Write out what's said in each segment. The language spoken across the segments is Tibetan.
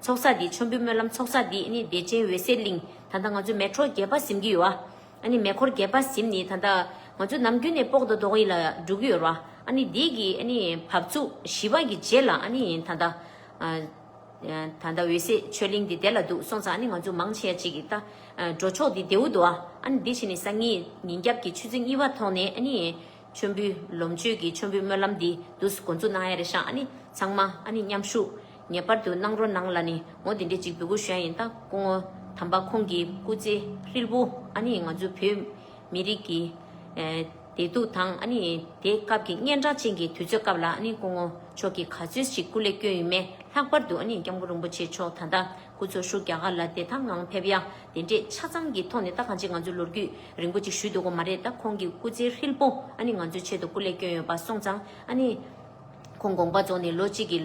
ཚོགས་བསགས་འདི་ཆོམ་པོའི་སྨོན་ལམ་ཚོགས་བསགས་འདི་ནི་བདེ་ཆེན་འོད་གསལ་གླིང། ད་ལྟ་ང་ཚོ་མལ་གྲོ་རྒྱས་པ་གཟིམ་གྱི་ཡོད། ཨ་ནི་མལ་འཁོར་རྒྱས་པ་གཟིམ་ནི་ད་ལྟ་ང་ཚོ་ནམ་རྒྱུན་ནས་པོག་དོ་དོག་ཡིད་ལ་འགྲོ་གི་ཡོད། ཨ་ནི་འདི་གི་ཨ་ནི་བབས་ཚུགས་ཞི་བ་གི་རྗེས་ལ་ཨ་ནི་ད་ལྟ། ད་ལྟ་འོད་གསལ་ཆོས་གླིང་འདི་བདེ་ལ་འདུག་སོང་ཙང་ཨ་ནི་ང་ཚོ་མང་ཆེ་ཡ་གཅིག་གི་ལྟ། འགྲོ་ཕྱོགས་འདི་བདེའུ་དུ་ཨ་ནི་འདི་བཞིན་ནི་སང་ཉིན་ཉིན་རྒྱབ་ཀྱི་ཆུ་ཚོད་གཉིས་པ་ཐོག་ནས་ཨ་ནི། མཆོད་འབུལ། ལོངས་སྤྱོད་ཀྱི་མཆོད་འབུལ་སྨོན་ལམ་འདི་དུ་སུ་འགོ་འཛུགས་གནང་ཡ་རེད་ཤག་ཨ་ནི་ཚང་མ་ཨ་ནི་མཉམ་ཞུགས་ངེས་པར་དུ་གནང་རོགས་གནང་ལ་ནི་ངོ་དེ་འདྲའི་གཅིག་པུའི་གུ་ཞོན་ཡིན་སྟབས་སྐུ་ངོ་དམ་པ་ཁོང་གི་སྐུ་ཚེ་ཧྲིལ་པོ་ཨ་ནི་ང་ཚོའི་བོད་མི་རིགས་ཀྱི་བདེ་སྡུག་དང་ཨ་ནི་དེ་སྐབས་ཀྱི་གཉན་འཕྲང་ཅན་གྱི་དུས་ཚོད་སྐབས་ལ་ཨ་ནི་སྐུ་ངོ་མཆོག་གིས་ག་ཚོད་ཅིག་སྐུ་ལས་བསྐྱོན་ཡོད་མེད་ལྷག་པར་དུ་ཨ་ནི་སྐྱབས་མགོན་རིན་པོ་ཆེ་མཆོག་ད་ལྟ་ཁོ་ཚོ་ཤུགས་རྒྱ་གར་ལ་བདེ་ཐང་ངང་ཕེབས་ཡ། དེ་འདྲས་ཆ་ཚང་གི་ཐོག་ནས་ད་གང་ཅི་ང་ཚོས་ལོ་རྒྱུས་རིང་པོ་ཅིག་བཞུས་འདུག་གོ་མ་རེད་ད་ཁོང་གི་སྐུ་ཚེའི་ཧྲིལ་པོ་ཨ་ནི་ང་ཚོའི་ཆེད་དུ་སྐུ་ལས་བསྐྱོན་ཡོད་པ་སོང་ཙང་ཨ་ནི། ཁོང་དགོངས་པ་རྫོགས་ནས་ལོ་གཅིག་གི་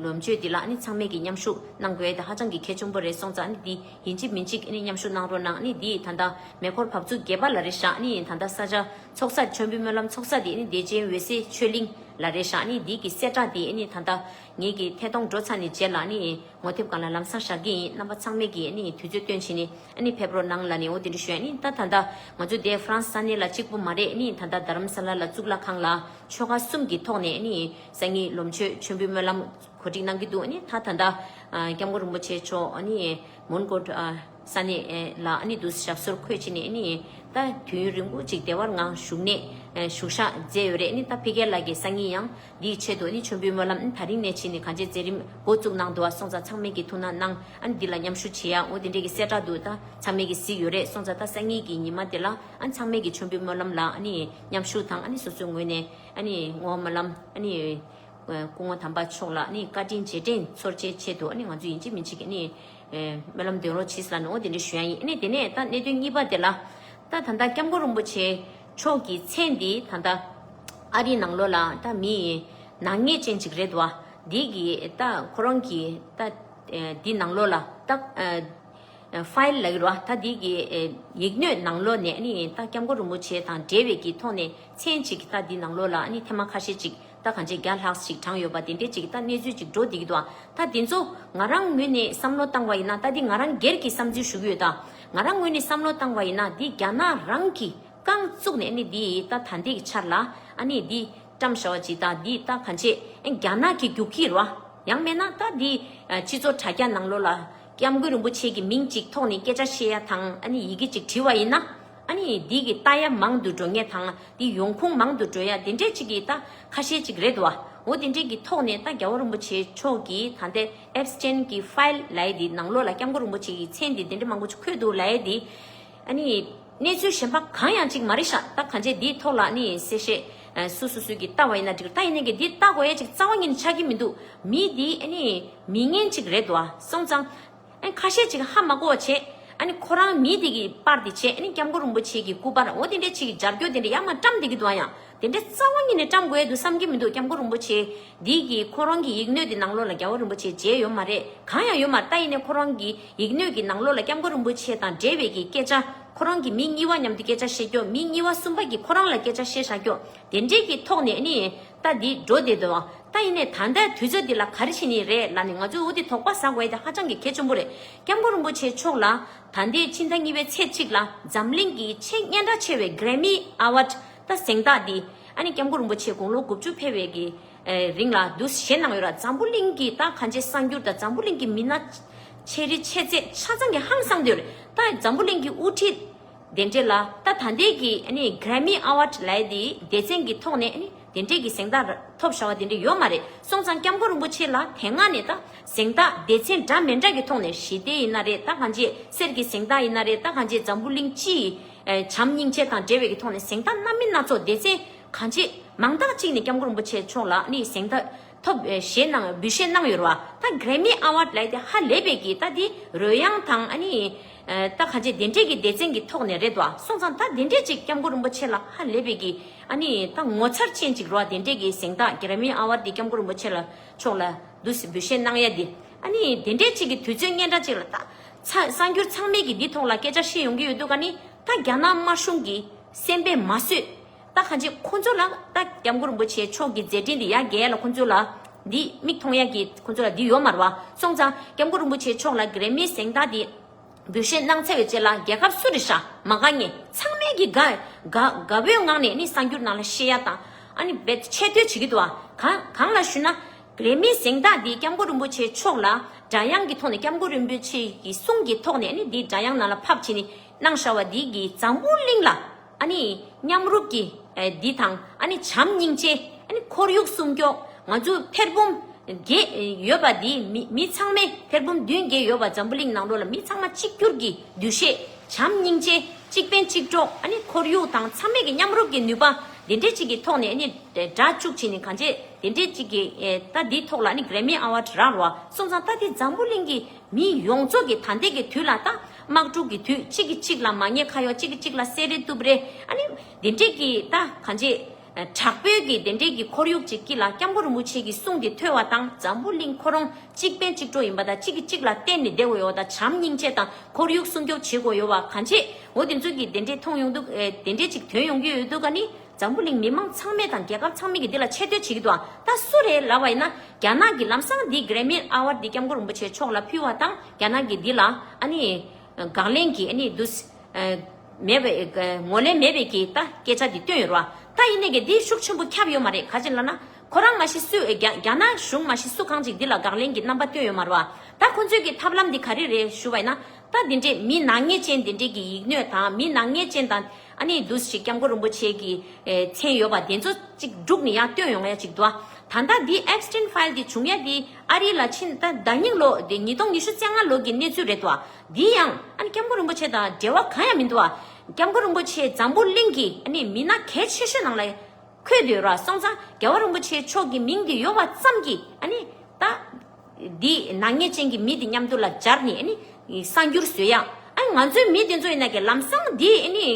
ལོ་མཇུག་དེ་ལ་ཨ་ནི་ཚང་མས་ཀྱི་མཉམ་ཞུགས་གནང་དགོས་ད་ཧ་ཅང་གི་གལ་ཆུང་པོ་རེད་སོང་ཙང་ཨ་ནི་འདི་ཡིན་གཅིག་མིན་གཅིག་ཨ་ནི་མཉམ་ཞུགས་གནང་རོགས་གནང་ཨ་ནི་འདིས་ད་ལྟ་མེ་འཁོར་བབས་ཚུགས་རྒྱས་པ་ལ་རེད་ཤག་ཨ་ནི་ཡིན་ད་ལྟ་ས་ཆ་ཚོགས་སར་མཆོད་འབུལ་སྨོན་ལམ་ཚོགས་ས་དེ་ཨ་ནི་བདེ་ཆེན་འོད་གསལ་ཆོས་གླིང་ལ་རེད་ཤག་ཨ་ནི་འདིས་ཀྱི་གསལ་བསྒྲགས་དེ་ཨ་ནི་ད་ལྟ་ངེད་ཀྱི་ཐད་གཏོང་འགྲོ་ཚར་ནས་རྗེས་ལ་ཨ་ནི། ངོ་དེབ་གང་ལ་ལམ་སང་བཞག་གི་ཡིན་རྣམ་པ་ཚང་མས་ཀྱི་ནི་དུས་ཚོད་སྟོན་བྱེད་ནི་ནི་ཕེབས་རོགས་གནང་ལ་ནི་འོ་དེ་འདྲི་ཞོན་ནི་ད་ད་ད་ང་ཚོ་དེ་ཧྥ་རན་ས་གནས་ལ་གཅིག་པོ་མ་རེད་ནི་ད་ད་རྡ་རམ་ས་ལ་ལ་གཙུག་ལག་ཁང་ལ་ཆོལ་ཁ་གསུམ་གྱི་ཐོག་ནས་ནི་སང་ཉིན་ལོ་མཆོད་མཆོད་འབུལ་སྨོན་ལམ་གོ་སྒྲིག་གནང་གི་འདུག་ནི་ད་ད་ད་སྐྱབས་མགོན་རིན་པོ་ཆེ་མཆོག་ནི་མོན་གྷོ་ས་གནས་ལ་ནི་འདུག་ཞབས་སོར་འཁོད་བྱེད་ནི་ནི་ད་དུས་ཡུན་རིང་པོ་ཅིག་བདེ་བར་ངང་བཞུགས་ནས་བཞུགས་ཤག་མཛད་ཡོད་རེད་ནི་ད་ཕི་ཀེ་ལགས་ཀྱི་སང་ཉིན་ཡང་འདིའི་ཆེད་དུ་ཨ་ནི་མཆོད་འབུལ་སྨོན་ལམ་ད་རིང་ནས་བྱེད་ནི་གང་བྱེད་རྩེ་རིམ་འགོ་བཙུགས་གནང་འདུག་ཨ་སོང་ཙང་ཚང་མེད་ཀྱི་ཐུགས་ན་གནང་ཨ་ནི་འདི་ལ་མཉམ་ཞུ་བྱེད་ཡའོ་དེ་འདྲས་ཀྱི་གསལ་བསྒྲགས་འདུག་ད་ཚང་མེད་ཀྱི་ཟིག་ཡོད་རེད་སོང་ཙང་ད་སང་ཉིན་གྱི་ཉི་མ་དེ་ལ་ཨ་ནི་ཚང་མེད་ཀྱི་མཆོད་འབུལ་སྨོན་ལམ་ལ་ཨ་ནི་མཉམ་ཞུགས་དང་ཨ་ནི་སོ་སོའི་ངོས་ནས་ཨ་ནི་ངོ་སྨོན་ལམ་ཨ་ནི་སྐུ་ངོ་དམ་པ་མཆོག་ལ་ཨ་ནི་བཀའ་དྲིན་རྗེས་དྲན་འཚོར་བྱེད་ཆེད་དུ་ཨ་ནི་ང་ཚོ་ཡིན་ཅིག་མིན་ཅིག་གི་ཨ་ནི་སྨོན་ལམ་འདོན་རོགས་བྱིས་ལ་ནོ་དེ་འདྲས་ཞུ་ཡ་ཡིན་ཨ་ནི་དེ་ནས་ད་གནད་དོན་གཉིས་པ་དེ་ལ་ད་ད་ལྟ་སྐྱབས་མགོན་རིན་པོ་ཆེ་ཕྱོགས་ཀྱི་ཚེ་འདི་ད་ལྟ། ཨ་རིའི་ནང་ལོགས་ལ་ད་མི་ཡི་ནག་ཉེས་ཅན་ཅིག་རེད་བ། འདི་གི་ད་ཁོ་རང་གི་ད་འདི་ནང་ལོགས་ལ་ད། File ལ་ཡོད་བ་ད་འདི་གི་ཡིག་སྣོད་ནང་ལོགས་ནས་ད་སྐྱབས་མགོན་རིན་པོ་ཆེ་དང་འབྲེལ་བའི་གི་ཐོག་ནས་མཚན་ཅིག་ད་འདི་ནང་ལོགས་ལ་ཐེ་མ་ཁ་ཤས་ཅིག་རྟ་གང་བྱེད་བརྒྱ་ལྷག་ཅིག་དྲངས་ཡོད་པ་དེ་འདྲའི་ཅིག་རྟ་གནས་ཚུལ་ཅིག་འགྲོ་བསྡད་ཀྱི་འདུག་རྟ་འདི་ཚོ་ང་རང་ངོས་ནས་བསམ་བློ་བཏང་བ་ཡིན་ན་རྟ་འདི་ང་རང་སྒེར་གྱི་བསམ་ཚུལ་ཞུ་གི་ཡོད། ང་རང་ངོས་ནས་བསམ་བློ་བཏང་བ་ཡིན་ན་འདི་རྒྱ་ནག་རང་གིས་རྐང་བཙུགས་ནས་ཨནི་འདི་རྟ་ད་འདེགས་འཆར་ལ་ཨནི་འདི་བཀྲམ་ཞའོ་ཇི་ལྟ་འདི་རྟ་གང་བྱེད་ཨན་རྒྱ་ནག་གི་རྒྱུག་ཁྱི་རོ། ཡང་མེད་ན་རྟ་འདི་ཕྱི་ཚོ་དྲ་རྒྱ་ནང་ལོ་ལ་སྐྱབས་མགོན་རིན་པོ་ཆེ་གི་མིང་ཅིག་ཐོག་ནས་སྐད་ཆ་བཤད་ཡ་དང་ཨནི་ཡི་གེ་ཅིག་བྲིས་བ་ཡིན་ན། ཨ་ནི་འདི་གི་རྟ་ཡ་མང་དུ་འགྲོ་ངེས་དང་འདི་ཡོང་ཁུངས་མང་དུ་འགྲོ་ཡ་དེ་འདྲས་ཅིག་གི་རྟ་ཁ་ཤས་ཅིག་རེད་དོ་འོ་དེ་འདྲས་གི་ཐོག་ནས་རྟ་རྒྱ་བོ་རིན་པོ་ཆེ་མཆོག་གི་ད་ལྟའི Apps ཅན་གི File ལའེ་འདི་ནང་ལོགས་ལ་སྐྱབས་མགོ་རིན་པོ་ཆེ་གི་མཚན་འདི་དེ་འདྲས་མང་པོ་ཅིག་འཁོད་འདུག་ལའེ་འདི་ཨ་ནི་གནས་ཚུལ་གཞན་པ་གང་ཡང་ཅིག་མ་རེད་ཤག་རྟ་གང་ཆེ་འདིའི་ཐོག་ལ་ཨ་ནི་གསལ་བཤད་སུ་སུ་སུ་གི་རྟ་བ་ཡིན་ན་འགྲིག་རྟ་ཡིན་ནའི་གི་འདི་རྟ་གོ་ཡ་ཅིག་རྩ་བ་ཉིད་ནས་ཆགས་གི་མི་འདུག་མི་འདི་ཨ་ནི་མི་ངན་ཅིག་རེད་དོ་སོང་ཙང། ཨ་ཁ་ཤས་ཅིག་ཧ་མ་གོ་བ་བྱེད། ཨ་ནི་ཁོ་རང་མི་དེ་གི་པར་དེ་བྱེད་ཨ་ནི་སྐྱབས་མགོན་རིན་པོ་ཆེ་གི་སྐུ་པར་འོ་དེ་འདྲའི་ཆེ་གི་སྦྱར་འགྱོ་དེ་འདྲའི་ཡ་མ་བཀྲམ་དེ་གི་འདུག་ཨ་ཡང་དེ་འདྲའི་རྩ་བ་ཉིད་ནས་བཀྲམ་དགོས་ཡ་འདུག་བསམ་གྱི་མི་འདུག་སྐྱབས་མགོན་རིན་པོ་ཆེ་འདི་གི་ཁོ་རང་གི་ཡིག་སྣོད་དེ་ནང་ལོགས་ལ་རྒྱལ་བ་རིན་པོ་ཆེ་མཇལ་ཡོད་མ་རེད་གང་ཡང་ཡོད་མ་རྟ་ཡིན་ནའི་ཁོ་རང་གི་ཡིག་སྣོད་ཀྱི་ནང་ལོགས་ལ་སྐྱབས་མགོན་རིན་པོ་ཆེ་དང་འབྲེལ་བའི་གི་སྐད་ཆ་ཁོ་རང་གི་མི་གཉིས་བ་མཉམ་དུ་སྐད་ཆ་བཤད་རྒྱོ་མི་གཉིས་བ་གསུམ་པ་གི་ཁོ་རང་ལ་སྐད་ཆ་བཤད་ཤག་རྒྱོ་དེ་འདྲའི་གི་ཐོག་ནས་ཨ་ནི་རྟ་འདི་འགྲོ་བདེ་འདོད། རྟ་ཡིན་ནས་ད་ལྟའི་དུས་ཚོད་འདི་ལ་ག་རེ་བྱེད་ནི་རེད་ལ་ནི་ང་ཚོའི་འུ་འདི་དོགས་པ་ཟག་བས་ཀྱང་ཧ་ཅང་གི་གལ་ཆེན་པོ་རེད་སྐྱབས་མགོན་རིན་པོ་ཆེ་མཆོག་ལ། ད་ལྟའི་ཕྱི་ཟླ་གཉིས་པའི་ཚེས་གཅིག་ལ་འཛམ་གླིང་གི་ཆེས་སྙན་གྲགས་ཆེ་བའི Grammy Award རྟ་གཟེངས་རྟགས་འདི་ཨ་ནི་སྐྱབས་མགོན་རིན་པོ་ཆེ་དགུང་ལོ་དགུ་བཅུ་ཕེབས་བའི་གི་རིང་ལ་བསྡུ་བཞེས་གནང་ཡོད་ར་འཛམ་བུ་གླིང་གི་རྟ་གང་ཆེ་གསར་འགྱུར་དང་འཛམ་བུ་གླིང་གི་མི་སྣ་ཆེ་རི་ཆེ་ཚད་ཆ་ཚང་གི་ཧང་སངས་དུས་རྟ་འཛམ་བུ་གླིང་གི་དབུ་ཁྲིད་དེ་འབྲེལ་ལ་ད་ད་འདས་ཀྱི Grammy Award ལའི་དེའི་སྡེ་ཚན་གྱི་ཐོག་ནས་དེ་འབྲེལ་གྱི་གཟེངས་རྟགས་ཐོབ་བྱ་བ་དེ་འདྲ་ཡོད་མ་རེད་སོང་ཙང་སྐྱབས་མགོན་རིན་པོ་ཆེ་ལ་དེ་སྔ་ནས་ད་གཟེངས་རྟགས་སྡེ་ཚན་འདྲ་མི་འདྲ་གི་ཐོག་ནས་ཞི་བདེ་ཡིན་ན་རེད་ད་གང་ཅེས་གསེར་གྱི་གཟེངས་རྟགས་ཡིན་ན་རེད་ད་གང་ཅེས་འཛམ་བུ་གླིང་སྤྱིའི་བྱམས་སྙིང་རྗེ་དང་འབྲེལ་བའི་གི་ཐོག་ནས་གཟེངས་རྟགས་སྣ་མིན་སྣ་ཚོགས་སྡེ་ཚན་གང་ཅེས་མང་དག་ཅིག་ནས་སྐྱབས་མགོན་རིན་པོ་ཆེ་མཆོག་ལ་གཟེངས་རྟགས་ཐོབ་ཞེས་གནང་འབུལ་བཞེས་གནང་ཡོད་ར་བ་ད Grammy Award ལས་དེ་ཧ་ལས་པས་ཀྱི་ད་དེ་རོལ་དབྱངས་དང་ཨ་ནི་ད་ག་འཇེ་དེ་འདྲས་ཀྱི་སྡེ་ཚན་གྱི་ཐོག་ནས་རེད་བ་སོང་ཙང་ད་དེ་འདྲས་ཅིག་སྐྱབས་མགོན་རིན་པོ་ཆེ་ལ་ཧ་ལས་པས་ཀྱི་ཨ་ནི་ད་ངོ་ཚར་ཅན་ཅིག་རོ་བ་དེ་འདྲས་ཀྱི་གཟེངས་རྟགས Grammy Award དེ་སྐྱབས་མགོན་རིན་པོ་ཆེ་ལ་མཆོག་ལ་འདུ་ཟེར་འབུལ་བཞེས་གནང་ཡ་དེ་ཨ་ནི་དེ་འདྲས་ཅིག་གི་དུས་ཚོད་སྙན་གྲགས་ཅིག་ལ་ད་གསར་འགྱུར་ཚང་མས་ཀྱི་འདི་ཐོག་ལ་སྐད་ཆ་བཤད་ཡོང་གི་ཡོད་འདུག་ག་ནི་ད་རྒྱ་ནག་དམར་གཞུང་གི་སེམས་པས་མ་བཟོད། ད་གང་ཅི་ཁོང་ཚོ་ལ་ད་སྐྱབས་མགོན་རིན་པོ་ཆེ་མཆོག་གི་མཛད་འཕྲིན་འདི་ཡ་རྒྱལ་ལ་ཁོང་ཚོ་ལ་འདི་མིག་མཐོང་ཡ་གི་ཁོང་ཚོ་ལ་འདི་ཡོད་མར་བ་སོང་ཙང་སྐྱབས་མགོན་རིན་པོ་ཆེ་མཆོག་ལ་གེརེ་མིའི་གཟེངས་རྟགས་འདི་འབུལ་བཞེས་གནང་འཚལ་བའི་ཆེད་ལ་རྒྱལ་ཁབ་སུ་རི་ཤ་མ་དགའ་ངས་ཚང་མས་གི་དགའ་དགའ་བོའི་ངང་ནས་ནི་གསར་འགྱུར་ནང་ལ་ཤེས་ཡ་དང་ཨ་ནི་བེད་ཆེད་བསྟོད་བྱེད་གི་འདུག་ཨ་གང་ལ་ཞུ་ན་གེརེ་མིའི་གཟེངས་རྟགས་འདི་སྐྱབས་མགོན་རིན་པོ་ཆེ་མཆོག་ལ་སྒྲ་དབྱངས་ཀྱི་ཐོག་ནས་སྐྱབས་མགོན་རིན་པོ་ཆེ་གི་གསུང་གི་ཐོག་ནས་ནི་འདི་སྒྲ་དབྱངས་ནང་ལ་ཕབ་བྱེད་ནི་གནང་ཤར་བ་འདི་གི་འཛམ་བུ་གླིང་ལ། ཨ་ནི། མཉམ་རུབ་ཀྱི། འདི་དང། ཨ་ནི། བྱམས་སྙིང་རྗེ། ཨ་ནི། ཁོར་ཡུག་སྲུང་སྐྱོང། ང་ཚོས་ཕེར་བུམ། བརྒྱད། ཡོད་པ་འདིས། མི་ཚང་མས་ཕེར་བུམ་བདུན་བརྒྱད་ཡོད་པ་འཛམ་བུ་གླིང་ནང་འགྲོ་ལ་མི་ཚང་མ་གཅིག་གྱུར་གྱི་འདུ་ཤེས། བྱམས་སྙིང་རྗེ། གཅིག་ཕན་གཅིག་གྲོགས། ཨ་ནི། ཁོར་ཡུག་དང་འཚམ་མེད་ཀྱི་མཉམ་རུབ་ཀྱི་ནུས་པ། དེ་འདྲའི་ཅིག་གི་ཐོག་ནས་ཨ་ནི། སྒྲ་བཅུག་བྱས་ནས་གང་བྱས། དེ་འདྲའི་ཅིག་གི། རྟ་འདིའི་ཐོག་ལ་ཨ་ནི། Grammy Award རག་ལ་བ། སོང་ཙང་རྟ་འདི་འཛམ་བུ་གླིང་གི། མི་ཡོངས་རྫོགས་ཀྱི་ད་ལྟའི་གི་དུས་ལ་ད་དམག་འཁྲུག་གི་དུས་གཅིག་གི་གཅིག་ལ་མ་ཉེས་ཁ་ཡོག་གཅིག་གི་གཅིག་ལ་གསལ་རེ་གཏུབ་རེ་ཨ་ནི་དེ་འདྲས་ཀྱི་ད་གང་ཅི། དྲག་པོའི་གི་དེ་འདྲས་ཀྱི་ཁོར་ཡུག་ཅིག་སྐྱིད་ལ་སྐྱབས་མགོ་རིན་པོ་ཆེ་གི་གསུང་དེ་ཐོས་བ་དང་འཛམ་བུ་གླིང་ཁོ་རང་གཅིག་ཕན་གཅིག་གྲོགས་ཡིན་པ་ད་གཅིག་གི་གཅིག་ལ་བརྟེན་ནས་བསྡད་དགོས་ཡོག་ད་བྱམས་སྙིང་རྗེ་དང་ཁོར་ཡུག་སྲུང་སྐྱོབ་བྱེད་དགོས་ཡོག་བ་གང་ཅི་འོ་དེ་ཚོའི་གི་དེ་འདྲས་མཐོང་ཡོང་དུ་དེ་འདྲས་ཅིག་དོན་ཡོང་གི་ཡོད་དུ་ག་ནི་འཛམ་བུ་གླིང་མི་མང་ཚང་མས་དང་རྒྱལ་ཁབ་ཚང་མས་ཀྱིས་འདི་ལ་ཆེ་བསྟོད་བྱེད་ཀྱི་འདུག་ད་སུ་རེད་ལབ་བ་ཡིན་ན་རྒྱ་ནག་གི་ལམ་སང་འདི Grammy Award འདི་སྐྱབས་མགོན་རིན་པོ་ཆེ་མཆོག་ལ་ཕུལ་བ་དང་རྒྱ་ནག་གིས་འདི་ལ་ཨ་ནི་དགག་ལན་གྱིས་ཨ་ནི་འདུ་མེད་པའི་ངོ་ལེན་མེད་པའི་གྱིས་ད་སྐད་ཆ་འདི་བཏོན་ཡོད་རོ་ད་ཡིན་ནའི་གྱིས་འདི་ཤུགས་ཆེན་པོ་ཁྱབ་ཡོད་མ་རེད་ག་ཅེ་ལ་ན་ཁོ་རང་མ་ཤི་སུས་རྒྱ་ནག་གཞུང་མ་ཤི་སུ་གང་ཅིག་འདི་ལ་དགག་ལན་གྱི་རྣམ་པ་བཏོན་ཡོད་མ་རོ་ད་ཁོ་ཚོས་གྱིས་ཐབས་ལམ་འདི་ག་རེ་རེད་ཞུ་བ་ཡིན་ན་ད་འདི་འདྲའི་མི་ནག་ཉེས་ཅན་འདི་འདྲའི་གྱིས་ཡིག་སྣོད་དང་མི་ནག་ཉེས་ཅན་དང། ཨ་ནེའི་འདུ་ཤེས་སྐྱབས་མགོན་རིན་པོ་ཆེ་གི་མཚན་ཡོད་པ་དེ་ཚོ་ཅིག་སྒྲུག་ནས་ཡང་བཏོན་ཡོང་ཡ་ཅིག་འདུག་ད་ལྟ་འདི Epstein File འདི་བྱུང་ཡ་འདི་ཨ་རི་ལ་ཕྱིན་ད་ཟླ་གཉིས་ལོ་དེ་ཉིས་སྟོང་ཉི་ཤུ་བཅད་ལྔ་ལོ་གི་གནས་ཚུལ་རེད་འདུག་འདི་ཡང་ཨ་ནེ་སྐྱབས་མགོན་རིན་པོ་ཆེ་དང་འབྲེལ་བ་གང་ཡང་མི་འདུག་སྐྱབས་མགོན་རིན་པོ་ཆེ་འཛམ་བུ་གླིང་གི་ཨ་ནེ་མི་སྣ་གལ་ཆེ་ཤོས་ནང་ལ་འཁོད་འདུག་ར་སོང་ཙང་རྒྱལ་བ་རིན་པོ་ཆེ་མཆོག་གི་མིང་དེ་ཡོད་པ་ཙམ་གྱིས་ཨ་ནེ་ད། འདི་ནག་ཉེས་ཅན་གྱི་མི་འདི་མཉམ་དུ་ལ་སྦྱར་ནས་གསང་རྒྱུར་བཟོས་ཡང། ང་ཚོའི་མི་དེ་ཚོ་ཡིན་ན་ཀྱི་ལམ་སང་འདི་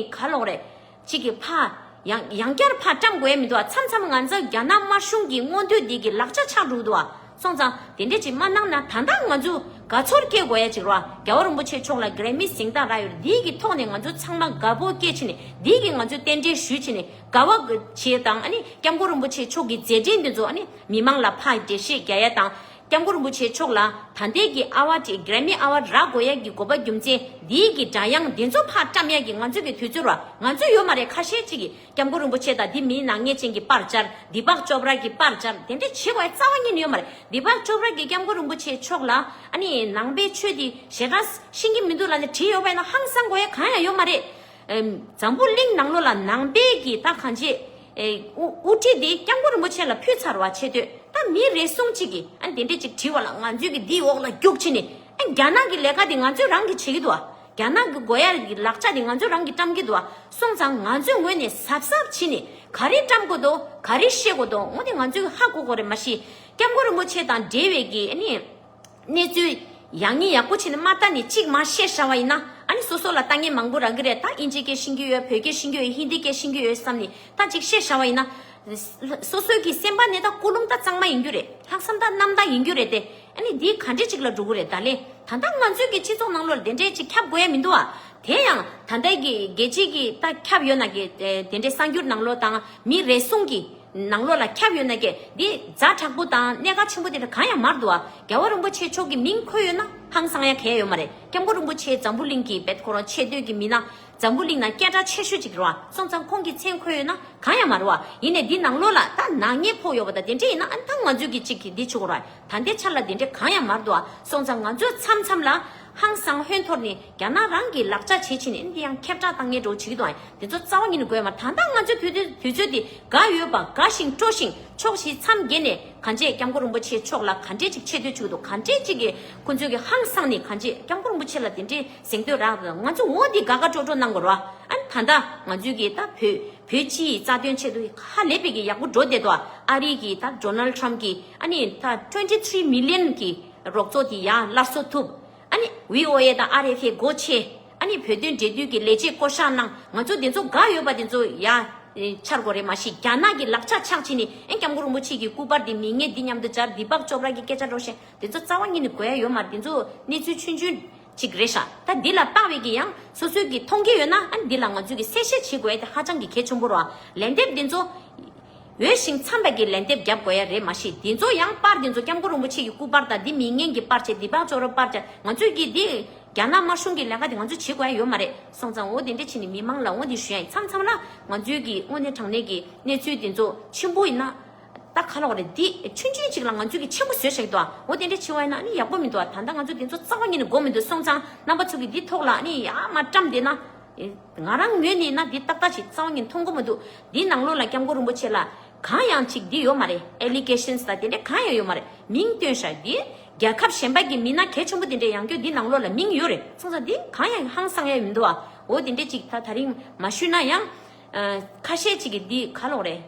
ག་ལོག་རེད། ཅིག་གི་ཕ། ཡང་ཡང་བསྐྱར་ཕ་བཀྲམ་དགོས་ཡ་མི་འདུག་ཨ་མཚམས་མཚམས་ང་ཚོ་རྒྱ་ནག་དམར་གཞུང་གི་མངོན་འདོད་འདི་གི་ལག་ཆ་ཆག་འགྲོ་གི་འདུག་ཨ་སོང་ཙང་དེ་འདྲས་ཅིག་མ་གནང་ན་ད་ལྟ་ང་ཚོ་དགའ་ཚོར་སྐྱེ་དགོས་ཡ་ཅིག་རོ་ཨ་རྒྱ་བོ་རིན་པོ་ཆེ་མཆོག་ལ་གྲས་མི་གཟིངས་དང་ར་ཡོད་འདི་གི་ཐོག་ནས་ང་ཚོ་ཚང་མ་དགའ་པོ་སྐྱེ་ཕྱིན་འདི་གི་ང་ཚོ་རྟེན་འབྲེལ་ཞུ་ཕྱིན་དགའ་བ་བྱེད་དང་སྐྱབས་མགོན་རིན་པོ་ཆེ་མཆོག་གི་མཛད་འཕྲིན་འདི་ཚོ་མི་མང་ལ་ཕག་རྒྱལ་ཤེས་རྒྱ་ཡ་དང་སྐྱབས་མགོན་རིན་པོ་ཆེ་མཆོག་ལ་ད་ལྟའི་གི་ཨ་བ་ཏྲི Grammy Award རག་གོ་ཡ་གི་གོ་པ་རྒྱུ་མཚན་འདིའི་གི་སྒྲ་དབྱངས་འདི་ཚོ་ཕག་བཀྲམ་ཡ་གི་ང་ཚོའི་གི་དུས་ཚོད་ར་ང་ཚོའི་ཡོད་མ་རེད་ཁ་ཤས་ཅིག་གི་སྐྱབས་མགོན་རིན་པོ་ཆེ་དང་འདི་མི་ནག་ཉེས་ཅན་གི་པར་བཅར་འདི་ཕག་ཅོ་བར་གི་པར་བཅར་དེ་འདྲ་བྱེད་གོ་ཡ་རྩ་བ་ཉིད་ནས་ཡོད་མ་རེད་འདི་ཕག་ཅོ་བར་གི་སྐྱབས་མགོན་རིན་པོ་ཆེ་མཆོག་ལ་ཨ་ནི་ནང་པའི་ཆོས་འདི་ཞེ་དྲག་ཤིང་གི་མི་འདུག་ལ་ནི་བྲིས་ཡོད་པ་ཡིན་ན་ཧང་སང་གོ་ཡ་གང་ཡང་ཡོད་མ་རེད་འཛམ་བུ་གླིང་ནང་ལོ་ལ་ནང་པའི་གི་རྟ་གང་ཆེ། དབུ་ཁྲིད་དེ་སྐྱབས་མགོན་རིན་པོ་ཆེ་ལ་ཕུལ་ཚར་བ་ཆེ་དུས་ད་མི་རེ་ཟུང་གཅིག་གི་ཨ་དེ་འདྲས་ཅིག་བྲིས་བ་ལ་ང་ཚོས་གི་དེའི་འོག་ལ་རྒྱུགས་ཕྱིན་ནས་ཨ་རྒྱ་ནག་གི་ལས་ཀ་དེ་ང་ཚོས་རང་གི་བྱེད་གི་འདུག་ཨ་རྒྱ་ནག་གི་དགོས་ཡར་གི་ལག་ཆ་དེ་ང་ཚོས་རང་གི་བཀྲམ་གི་འདུག་ཨ་སོང་ཙང་ང་ཚོས་ངོས་ནས་ཟབ་ཟབ་ཕྱིན་ནས་ག་རེ་བཀྲམ་དགོས་དོ་ག་རེ་བཤད་དགོས་དོ་ངོ་དེ་ང་ཚོས་གི་ཧ་གོ་གོ་རེ་མ་ཤེས་སྐྱབས་མགོན་རིན་པོ་ཆེ་དང་འབྲེལ་བའི་གི་ཨ་ནི། གནས་ཚུལ། ཡག་ཉེས་ཡག་པོ་བྱས་ནས་མ་ལྟ་ནས་གཅིག་མ་ཤེས་ཤ་བ་ཡིན་ན་ཨ་ནི་སོ་སོ་ལ་ལྟ་ངན་མང་པོ་རག་གི་རེད་ད་དབྱིན་ཇི་སྐད་ཤེས་ཀྱི་ཡོད་བོད་སྐད་ཤེས་ཀྱི་ཡོད་ཧིན་དི་སྐད་ཤེས་ཀྱི་ཡོད་བསམ་ནས་ད་གཅིག་ཤེས་ཤ་བ་ཡིན་ན། སོ་སོའི་གི་སེམས་པ་ནི་ད་ཀུ་ལུང་ད་གཙང་མ་ཡིན་རྒྱུ་རེད་ལྷག་བསམ་ད་རྣམ་དག་ཡིན་རྒྱུ་རེད་དེ་ཨ་ནི་འདི་ག་འདྲི་གཅིག་ལ་འགྲོ་གི་རེད་ད་ལེ་ད་ལྟ་ང་ཚོའི་གི་སྤྱི་ཚོགས་ནང་ལོ་དེ་འདྲས་གཅིག་ཁྱབ་དགོས་ཡ་མི་འདུག་ཨ་དེ་ཡང་ད་ལྟའི་གི་རྒྱལ་སྤྱི་གི་ད་ཁྱབ་ཡོད་ན་གི་དེ་འདྲས་གསང་རྒྱུར་ནང་ལོ་དང་མི་རེ་ཟུང་གི། ནང་ལོགས་ལ་ཁྱབ་ཡོད་ན་སྐད་འདི་རྫ་དྲག་པོ་དང་གནས་ག་ཆེན་པོ་དེ་འདྲ་གང་ཡང་མར་འདུག་ཨ། རྒྱལ་བ་རིན་པོ་ཆེ་མཆོག་གི་མིང་འཁོད་ཡོད་ན་ཧང་སང་ཡ་གས་ཡོད་མ་རེད་སྐྱབས་མགོན་རིན་པོ་ཆེའི་འཛམ་བུ་གླིང་གི་བེད་ཁོ་རང་ཆེ་བསྟོད་ཀྱི་མི་ན་འཛམ་བུ་གླིང་ན་སྐད་གྲགས་ཆེ་ཤོས་ཅིག་རོ་ཨ་སོང་ཙང་ཁོང་གི་མཚན་འཁོད་ཡོད་ན་གང་ཡང་མ་རོ་ཨ་ཡིན་ནས་འདི་ནང་ལོགས་ལ་ད་ནག་ཉེས་ཕོག་ཡོད་པ་ད་དེ་འདྲས་ཡིན་ན་ཨ་ད་ང་ཚོས་གི་ཅིག་འདི་བྱུག་རོ་ཨ་ད་འདི་འཆར་ལ་དེ་འདྲས་གང་ཡང་མར་འདུག་ཨ་སོང་ཙང་ང་ཚོས་མཚམས་མཚམས་ལ་ཧང་སང་ཧོན་ཐོར་ནི། རྒྱ་ནག་རང་གིས་ལག་ཆ་བྱེད་ཕྱིན་ནས་འདི་ཡང་ཁྱབ་བསྒྲགས་དང་ངན་གྲོགས་བྱེད་ཀྱི་འདུག་ཨང་དེ་ཚོ་རྩ་བ་ཉིད་ནས་དགོས་མ་ད་ལྟ་ང་ཚོའི་དུས་ཚོད་འདི་དགའ་ཡོད་པ་དགའ་ཞིང་སྤྲོ་ཞིང་ཆོག་ཞེས་མཚམས་བརྒྱད་ནས་གངས་ཅན་སྐྱབས་མགོན་རིན་པོ་ཆེ་མཆོག་ལ་ག་འདྲས་ཅིག་ཆེ་བསྟོད་བྱེད་ཀྱི་འདུག་ག་འདྲས་ཅིག་གིས་ཁོ་ཚོའི་གི་ཧང་སང་ནི་གངས་ཅན་སྐྱབས་མགོན་རིན་པོ་ཆེ་ལ་དེ་འདྲའི་གཟེངས་བསྟོད་རག་གི་ང་ཚོ་ངོ་འདི་དགའ་དགའ་སྤྲོ་སྤྲོ་གནང་དགོས་ར་ཨང་ད་ལྟ་ང་ཚོའི་གི་ད་བོད་བོད་སྤྱིའི་རྩ་དོན་ཆེད་དུ་ཧ་ལས་པའི་གི་ཡག་པོ་འགྲོ་བསྡད་འདུག་ཨ་རིའི་གི་ད Donald Trump གི་ཨ་ནི་ད twenty three million གི་རོགས་ཚོགས་དེ་ཡང་སླར་གསོ་ཐུབ། ཨ་ནི་བྷི་ཨོ་ཨེ་དང་ཨ་རེ་ཁའི་སྒོ་ཕྱེ། ཨ་ནི་བོད་དོན་འབྲེལ་མཐུད་ཀྱི་ལས་བྱེད་བསྐོ་བཞག་གནང། ང་ཚོ་དེ་ཚོ་དགའ་ཡོད་པ་དེ་ཚོ་ཡ། འཆར་སྒོ་རེད་མ་གཞི་རྒྱ་ནག་གི་ལག་ཆ་ཆག་བྱས་ནས་ཨེ་སྐྱབས་མགོན་རིན་པོ་ཆེ་གི་སྐུ་པར་དེ་མི་ངན་འདི་མཉམ་དུ་སྦྱར་འདི་འབག་ཅོ་བར་གྱི་སྐད་ཆ་སྒྲོག་བཞིན་དེ་ཚོ་རྩ་བ་ཉིད་ནས་གོཡ་ཡོད་མ་རེད་དེ་ཚོ་གནས་ཚུལ་ཆུན་ཆུན་ཅིག་རེད་ཤག་ད་འདི་ལ་ལྟ་བའི་གི་ཡང་སོ་སོའི་གི་མཐོང་གི་ཡོད་ན་ཨ་ནི་འདི་ལ་ང་ཚོས་གི་གསལ་བཤད་བྱེད་དགོས་ཨེ་དེ་ཧ་ཅང་གི་གལ་ཆུང་པོ་རོ་ཨ། ལན་འདེབས་དེ་ཚོ། འོས་ཤིང་འཚམས་པ་གྱི་ལན་འདེབས་རྒྱབ་དགོས་ཡ་རེད་མ་གཞི་འདི་ཚོ་ཡང་པར་འདི་ཚོ་སྐྱབས་མགོན་རིན་པོ་ཆེ་གྱི་སྐུ་པར་དང་འདི་མིང་ངན་གྱི་པར་ཆེ་འདི་འབག་བཙོག་རབ་པར་ཆ་ང་ཚོས་ཀྱིས་འདི། རྒྱ་ནག་དམར་གཞུང་གི་ལས་ཀ་འདི་ང་ཚོས་བྱེད་དགོས་ཡ་ཡོད་མ་རེད་སོང་ཙང་འོ་དེ་འདྲས་བྱེད་ནས་མི་མང་ལ་འོ་འདི་ཞུ་ཡ་ཡིན་འཚམས་འཚམས་ལ་ང་ཚོས་ཀྱིས་དངོས་གནས་དྲང་གནས་ཀྱི་གནས་ཚུལ་འདི་ཚོ་ཆེན་པོ་ཡིན་ན། ད་ག་ལོག་རེད་འདི་ཆུན་ཆུན་ཅིག་ལ་ང་ཚོས་ཀྱིས་ཆེན་པོ་བཟོས་ཤག་འདུག་ཨ་འོ་དེ་འདྲས་བྱེད་བ་ཡིན་ན་ནི་ཡག་པོ་མི་འདུག་ཨ་ད་ལྟ་ང་ཚོ་འདི་ཚོ་རྩ་བ་ཉིད་ནས་འགོག་མི་འདུག་སོང་ཙང་རྣམ་པ་ཚོ་ཀྱིས་འདི་ཐོག་ལ་ནི་ཡ་མ་བཀྲམས་དེ་ན། ང་རང་ངོས་ནས་ན་འདི་ཏག་ཏག་ཞིག་རྩ་བ་ནས་མཐོང་གོ་མ་འདུག་འདིའི་ནང་ལོགས་ལ་སྐྱབས་མགོན་རིན་པོ་ཆེ་ལ། གང་ཡང་ཅིག་འདི་ཡོད་མ་རེད Allegations དང་དེ་འདྲས་གང་ཡང་ཡོད་མ་རེད་མིང་བཏོན་ཤག་འདི། རྒྱལ་ཁབ་གཞན་པ་གི་མི་སྣ་གལ་ཆེན་པོ་དེ་འདྲས་ཡང་ཁྱོད་འདི་ནང་ལོགས་ལ་མིང་ཡོད་རེད་གསུངས་ས་འདི་གང་ཡང་ཧང་སང་ཡ་ཡོད་མི་འདུག་ཨ་འོ་དེ་འདྲས་ཅིག་ད་ད་རིང་མ་ཞུས་ན་ཡང། ཁ་ཤས་ཅིག་གི་འདི་ག་ལོགས་རེད།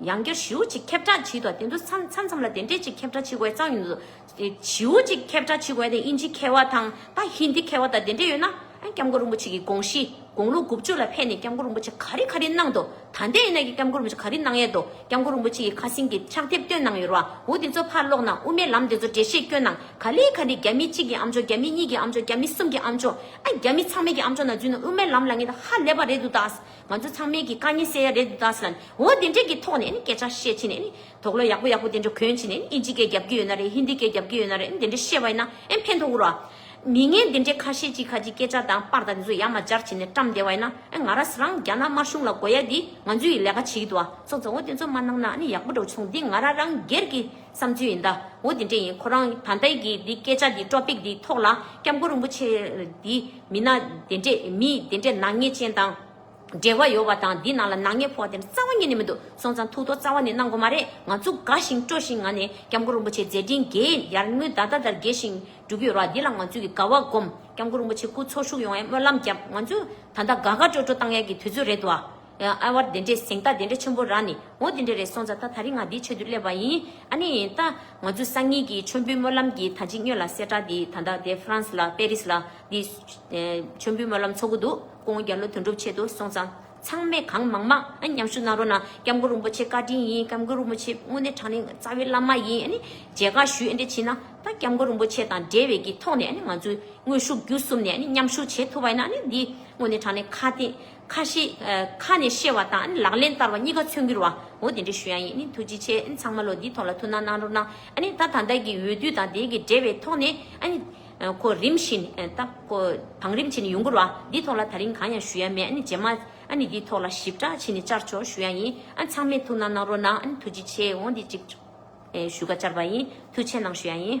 ཡང་བསྐྱར་ཞེའུ་གཅིག་ཁྱབ་བསྒྲགས་བྱས་འདུག་དེ་ཚོ་མཚམས་མཚམས་ལ་དེ་འདྲས་ཅིག་ཁྱབ་བསྒྲགས་བྱེད་དགོས་བསམ་ཡོང་དུ་འདུག་ཞེའུ་གཅིག་ཁྱབ་བསྒྲགས་བྱེད་དགོས་ན་དབྱིན་ཇི་མཁས་བ་དང་ད་ཧིན་དྷི་མཁས་བ་དང་དེ་འདྲས་ཡོད་ན་སྐྱབས་མགོན་རིན་པོ་ཆེ་གི་དགོངས་གཞི་དགུང་ལོ་དགུ་བཅུ་ལ་ཕེབས་ནས་སྐྱབས་མགོན་རིན་པོ་ཆེ་ག་རེ་ག་རེ་གནང་འདུག་ད་ལྟའི་ཡིན་ན་སྐྱབས་མགོན་རིན་པོ་ཆེ་ག་རེ་གནང་ཡས་འདུག་སྐྱབས་མགོན་རིན་པོ་ཆེ་ཡི་ཁ་སིང་གི་ཕྱག་དེབ་བཏོན་གནང་ཡོད་རུའུ་དེ་ཚོ་ཕར་སློག་ན་དབུ་མའི་ལམ་དེ་ཚོ་འགྲེལ་བཤད་བསྐྱོན་གནང་ག་ལེ་ག་ལེ་རྒྱ་མི་གཅིག་གི་ཨམ་ཆོག་རྒྱ་མི་གཉིས་ཀྱི་ཨམ་ཆོག་རྒྱ་མི་གསུམ་གྱི་ཨམ་ཆོག་ཨ་རྒྱ་མི་ཚང་མའི་གི་ཨམ་ཆོག་ན་རྫུན་ན་དབུ་མའི་ལམ་ལ་ངེས་ཧ་ལས་པ་རེད་འདུག་ད་ང་ཚོ་ཚང་མས་ཀྱི་དཀའ་ཉེན་སེལ་ཡ་རེད་འདུག་ད་སླ་ནས་འོ་དེ་འདྲས་ཀྱི་ཐོག་ནས་སྐད་ཆ་བཤད་ཕྱིན་ནས་དོགས་བློ་ཡག་པོ་ཡག་པོ་དེ་འདྲ་གོན་ཕྱིན་ནས་ཨིན་ཇི་སྐད་རྒྱབ་ཀྱི་ཡོད་ན་རེད་ཧིན་དི་སྐད་རྒྱབ་ཀྱི་ཡོད་ན་རེད་དེ་འདྲས་བཤད་པ་ཡིན་ན་ཕན་ཐོགས་འུར་བ། མི་ངན་དེ་འདྲས་ཁ་ཤས་ཀྱིས་ཁ་ཅིག་སྐད་ཆ་དང་པར་དང་དེ་ཚོ་ཡ་མ་སྦྱར་ཕྱིན་ནས་བཀྲམ་བསྡད་པ་ཡིན་ན་ང་ར་རང་རྒྱ་ནག་དམར་གཞུང་ལ་གོ་ཡ་དེ་ང་ཚོའི་ལས་ཀ་བྱེད་ཀྱི་འདུག་བ་ཚོགས་ཚོགས་འོ་དེ་ཚོ་མ་གནང་ན་ཡག་པོ་འགྲོ་བྱུང་དེ་ང་ར་རང་སྒེར་གྱི་བསམ་ཚུལ་ཡིན་ད། འོ་དེ་འདྲ་ཡིན་ཁོ་རང་ད་ལྟ་ཡི་གེ་འདི་སྐད་ཆ་འདི་ཀྲོ་ཕིག་འདི་ཐོག་ལ་སྐྱབས་མགོན་རིན་པོ་ཆེ་འདི་མི་ན་དེ་འདྲས་མི་དེ་འདྲས་ནག་ཉེས་ཅན་དང་འབྲེལ་བ་ཡོད་བ་དང་འདི་ནང་ལ་ནག་ཉེས་ཕོག་དེ་འདྲ་རྩ་བ་ཉིད་ནས་མི་འདུག་སོང་ཙང་ཐུགས་དོག་རྩ་བ་ནས་གནང་དགོས་མ་རེད་ང་ཚོ་དགའ་ཞིང་སྤྲོ་ཞིང་ང་ནས་སྐྱབས་མགོན་རིན་པོ་ཆེ་མཛད་འཕྲིན་རྒྱས་ཡར་ངོའི་ཟླ་ཟླ་ལྟར་རྒྱས་ཤིང་སྒྲུབ་ཡོད་ར་འདི་ལ་ང་ཚོས་ཀྱི་དགའ་བ་སྒོམ་སྐྱབས་མགོན་རིན་པོ་ཆེ་སྐུ་འཚོ་བཞུགས་ཡོང་བའི་སྨོན་ལམ་བརྒྱབ་ང་ཚོས་ད་ད་དགའ་དགའ་སྤྲོ་སྤྲོ་བཏང་ཡག་གི་དུས་ཚོད་རེད་དོ་ཨ། ཨ་ཨ་བར་དེ་འདྲས་ཟིན་ད་དེ་འདྲས་ཆེན་པོ་རག་ནི་འོ་དེ་འདྲས་རེད་སོང་ཙ་ད་ད་རིང་ང་འདིའི་ཆེད་དུ་སླེབས་པ་ཡིན་ཨ་ནི་ད་ང་ཚོས་སང་ཉིན་གྱི་མཆོད་འབུལ་སྨོན་ལམ་གྱི་ད་ཅིག་སྨྱོས་ལ་གསལ་བསྒྲགས་འདི་ད་ལྟ་དེ་ཧྥ་རན་སི་ལ་པེ་རི་སི་ལ་འདི་མཆོད་འབུལ་སྨོན་ལམ་ཚོགས་ཀྱི་འདུག་སྐུ་ངོ་རྒྱ་ལོ་དོན་གྲུབ་ཆེད་དུ་སོང་ཙང་ཚང་མས་གང་མང་མང་ཨ་མཉམ་ཞུགས་གནང་རོགས་གནང་སྐྱབས་མགོན་རིན་པོ་ཆེ་བཀའ་དྲིན་ཡིན་སྐྱབས་མགོན་རིན་པོ་ཆེ་དངོས་གནས་དྲང་གནས་རྩ་བའི་བླ་མ་ཡིན་ཨ་ནི་མཇལ་ཁ་ཞུས་ཨེ་འདྲས་བྱིན་ན་ད་སྐྱབས་མགོན་རིན་པོ་ཆེ་དང་འབྲེལ་བའི་གི་ཐོག་ནས་ཨ་ནི་ང་ཚོས་དངོས་ཤུགས་བརྒྱུད་གསུམ་ནས་ཨ་ནི་མཉམ་ཞུགས་བྱེད་ཐུབ་པ་ཡིན་ན་ཨ་ནི་འདི་དངོས་གནས་དྲང་གནས་ཁ་གཏད་ཁ་ཞེ། ཁ་ནས་བཤད་བ་དང་ལག་ལེན་བསྟར་བ་གཉིས་ཀ་མཚོན་གྱུར་བ། འོ་དེ་འདྲའི་ཞུ་ཡང་ཡིན། ཐུགས་རྗེ་ཆེ། ཚང་མ་ལོ་འདིའི་ཐོག་ལ་ཐུགས་སྣང་གནང་རོགས་གནང། ད་ད་ལྟ་གི་འོས་བསྡུ་དང་དེའི་གི་འབྲེལ་བའི་ཐོག་ནས། ཁོ་རིམ་བཞིན་ད། བང་རིམ་བྱས་ནས་ཡོང་གྱུར་བ། འདིའི་ཐོག་ལ་ད་རིང་གང་ཡང་ཞུ་ཡ་མེད། རྗེས་མ། འདིའི་ཐོག་ལ་ཞིབ་ཕྲ་བྱས་ནས་བཅར་ཆོག་ཞུ་ཡ་ཡིན། ཚང་མས་ཐུགས་སྣང་གནང་རོགས་གནང། ཐུགས་རྗེ་ཆེ། འོ་འདི་གཅིག། ཞུ་ཁ་བཅར་བ་ཡིན། ཐུགས་ཆེ་གནང་ཞུ་ཡ་ཡིན།